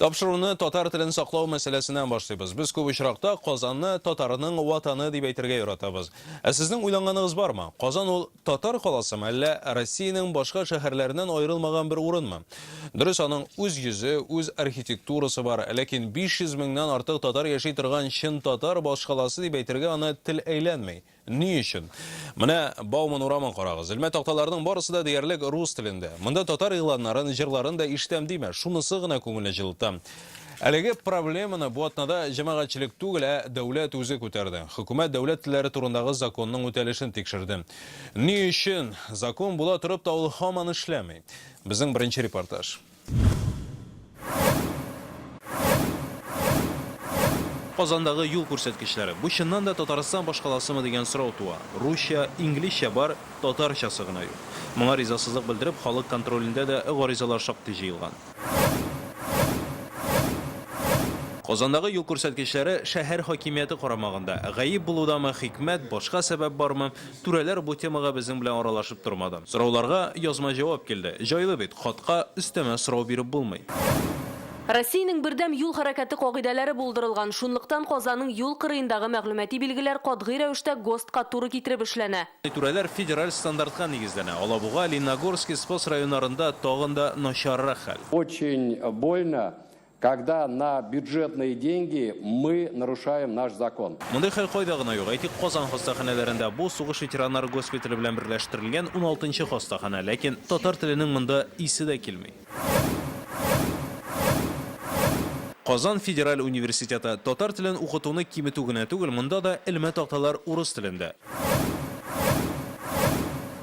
Тапшыруны татар телен саклау мәсьәләсеннән башлыйбыз. Без күп очракта Казанны татарның ватаны дип әйтергә яратабыз. Ә сезнең уйланганыгыз бармы? Казан ул татар каласымы, әллә Россиянең башка шәһәрләреннән аерылмаган бер урынмы? Дөрес, аның үз йөзе, үз архитектурасы бар, ләкин 500 меңнән артык татар яши торган чын татар башкаласы дип әйтергә аны тел әйләнми. Ни өчен? Менә Бауман урамын карагыз. Элмә такталарының барысы да диярлек рус телендә. Монда татар игъланнарын, җырларын да ишетәм димә, шунысы гына күңелне җылыта. Әлеге проблеманы бу атнада җәмәгатьчелек түгел, ә дәүләт үзе күтәрде. Хөкүмәт дәүләт телләре турындагы законның үтәлешен тикшерде. Ни өчен закон була торып та ул һаман эшләми? Безнең беренче репортаж. Казандагы юл күрсәткечләре. Бу чыннан да Татарстан башкаласымы дигән сорау туа. Русча, инглизчә бар, татарчасы гына юк. Моңа ризасызлык белдереп, халык контролендә дә гаризалар шактый җыелган. Казандагы юл күрсәткечләре шәһәр хакимияте карамагында. Гаеп булудамы, хикмәт, башка сәбәп бармы? Түрәләр бу темага безнең белән аралашып тормады. Сорауларга язма җавап килде. Җайлы бит, хатка өстәмә сорау биреп булмый. Россиянең бердәм юл хәрәкәте кагыйдәләре булдырылган, шунлыктан Казанның юл кырыендагы мәгълүмати билгеләр катгый рәвештә ГОСТка туры китереп эшләнә. Түрәләр федераль стандартка нигезләнә. Алабуга, Лениногорский, Спас районнарында тагын да начаррак хәл. Очень больно, Когда на бюджетные деньги мы нарушаем наш закон. Мондый хәл кайда гына юк. Әйтик, Казан хастаханәләрендә бу, сугыш ветераннары госпитале белән берләштерелгән уналтынчы хастаханә, ләкин татар теленең монда исе дә килми. Казан федераль университеты, татар телен укытуны киметү генә түгел, монда да элмә такталар урыс телендә.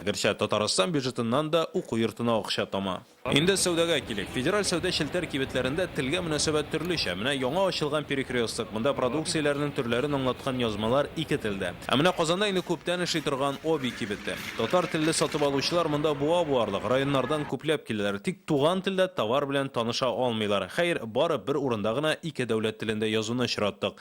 Гәрчә Татарстан бюджетыннан да уку йортына акча тама. Инде сәүдәгә килик. Федераль сәүдә челтәр кибетләрендә телгә мөнәсәбәт төрлечә. Менә яңа ачылган Перекресток, монда продукцияләрнең төрләрен аңлаткан язмалар ике телдә. Ә менә Казанда инде күптән эшли торган Оби кибете. Татар телле сатып алучылар монда буа буарлык районнардан күпләп киләләр, тик туган телдә товар белән таныша алмыйлар. Хәер, бары бер урында гына ике дәүләт телендә язуны очраттык.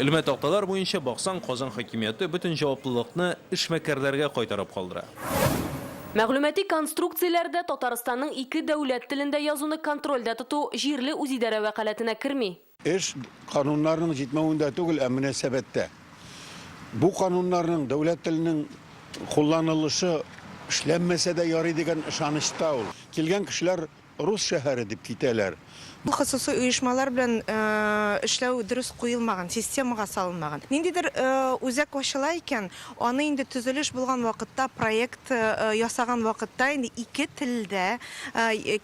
Элмә такталар буенча баксаң, Казан хакимияте бөтен җаваплылыкны эшмәкәрләргә кайтарып калдыра. Мәгълүмати конструкцияләрдә Татарстанның ике дәүләт телендә язуны контрольдә тоту җирле үзидарә вәкаләтенә керми. Эш кануннарның җитмәвендә түгел, ә мөнәсәбәттә. Бу кануннарның дәүләт теленең кулланылышы эшләнмәсә дә ярый дигән ышанычта ул. Килгән кешеләр Рус шәһәре дип китәләр. Бу хосусый оешмалар белән эшләү дөрес куелмаган, системага салынмаган. Ниндидер үзәк ачыла икән, аны инде төзелеш булган вакытта, проект ясаган вакытта инде ике телдә,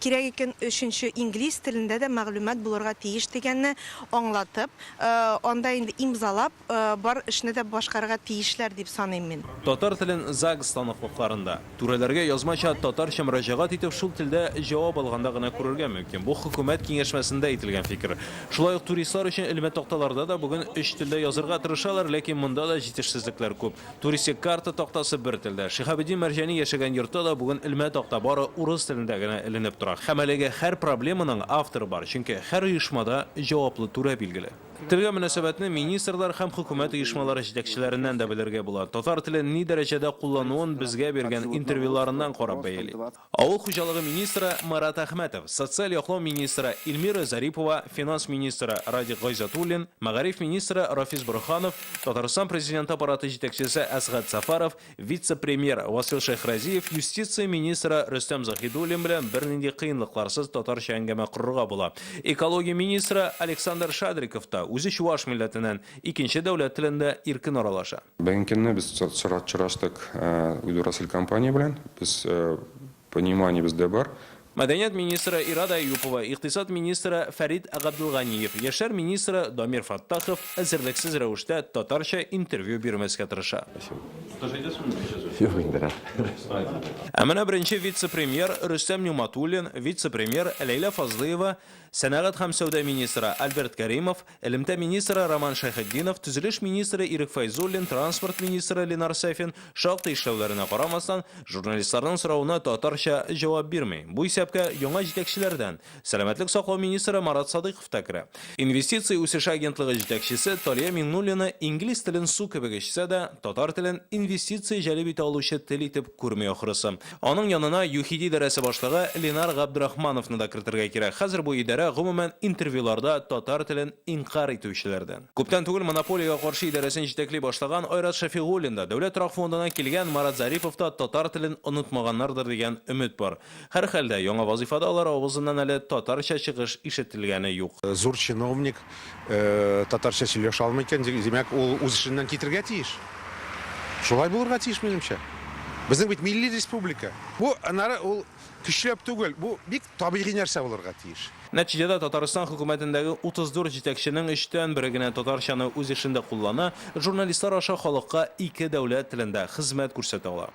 кирәк икән, өченче инглиз телендә дә мәгълүмат булырга тиеш дигәнне аңлатып, анда инде имзалап, Бар эшне дә башкарырга тиешләр дип саныйм мин. Татар телен ЗАГС станоклыкларында, түрәләргә язмача, татарча мөрәҗәгать итеп, шул телдә җавап алганда гына күрергә мөмкин. Бу хөкүмәт киңәшмәсендә әйтелгән фикер. Шулай ук туристлар өчен элмә такталарда да бүген өч телдә язырга тырышалар, ләкин монда да җитешсезлекләр күп. Туристик карта тактасы бер телдә. Шиһабетдин Мәрҗани яшәгән йортта да бүген элмә такта бары урыс телендә генә эленеп тора. Һәм әлеге һәр проблеманың авторы бар, чөнки һәр оешмада җаваплы түрә билгеле. Телгә мөнәсәбәтне министрлар һәм хөкүмәт оешмалары җитәкчеләреннән дә белергә була. Татар телен ни дәрәҗәдә куллануын безгә биргән интервьюларыннан карап бәяли. Авыл хуҗалыгы министры Марат Әхмәтов, социаль яклау министры Илмира Зарипова, финанс министры Радик Гайзатуллин, мәгариф министры Рафис Борһанов, Татарстан Президенты Аппараты җитәкчесе Әсгать Сафаров, Вице-премьер Васил Шәйхразиев юстиция министры Рөстәм Заһидуллин белән бернинди кыенлыкларсыз татарча әңгәмә корырга була. Экология министры Александр Шадриков та, үзе чуваш милләтеннән, икенче дәүләт телендә иркен аралаша. Бүгенге көнне без чыраштык Удурасель компания белән. Без Пониманиебез дә бар. Мәдәният министры Ирада Әюпова, икътисад министры Фәрит Габделганиев, яшьләр министры Дамир Фәттахов әзерлексез рәвештә татарча интервью бирмәскә тырыша. Юк инде, рәхмәт. Ә менә беренче вице-премьер Рөстәм Нигъматуллин, вице-премьер Ләйлә Фазлыева, сәнәгать һәм сәүдә министры Альберт Кәримов, Элемтә министры Роман Шәйхетдинов, төзелеш министры Ирек Фәйзуллин, транспорт министры Ленар Сафин, шактый эшләүләренә карамастан, журналистларның соравына татарча җавап бирми. Бу исәпкә яңа җитәкчеләрдән сәламәтлек саклау министры Марат Садыйков та керә. Инвестиция үсеше агентлыгы җитәкчесе Талия Миңнуллина инглиз телен су кебек эчсә дә, татар телен инвестиция җәлеп итә алучы тел итеп күрми ахрысы. Аның янына ЮХИДИ идарәсе башлыгы Ленар Габдрахмановны да кертергә кирәк. Хәзер бу идарә, гомумән, интервьюларда татар телен инкарь итүчеләрдән. Күптән түгел монополиягә каршы идарәсен җитәкли башлаган Айрат Шәфигуллин да, Дәүләт торак фондыннан килгән Марат Зарипов та татар телен онытмаганнардыр дигән өмет бар. Һәрхәлдә, яңа вазыйфада алар авызыннан әле татарча чыгыш ишетелгәне юк. Зур чиновник, татарча сөйләшә алмый икән, димәк, ул үз эшеннән китергә тиеш. Шулай булырга тиеш, минемчә. Безнең бит милли республика. Бу, аннары ул көчләп түгел, бу бик табигый нәрсә булырга тиеш. Нәтиҗәдә Татарстан хөкүмәтендәге 34 җитәкченең өчтән бере генә татарчаны үз эшендә куллана, журналистлар аша халыкка ике дәүләт телендә хезмәт күрсәтә ала.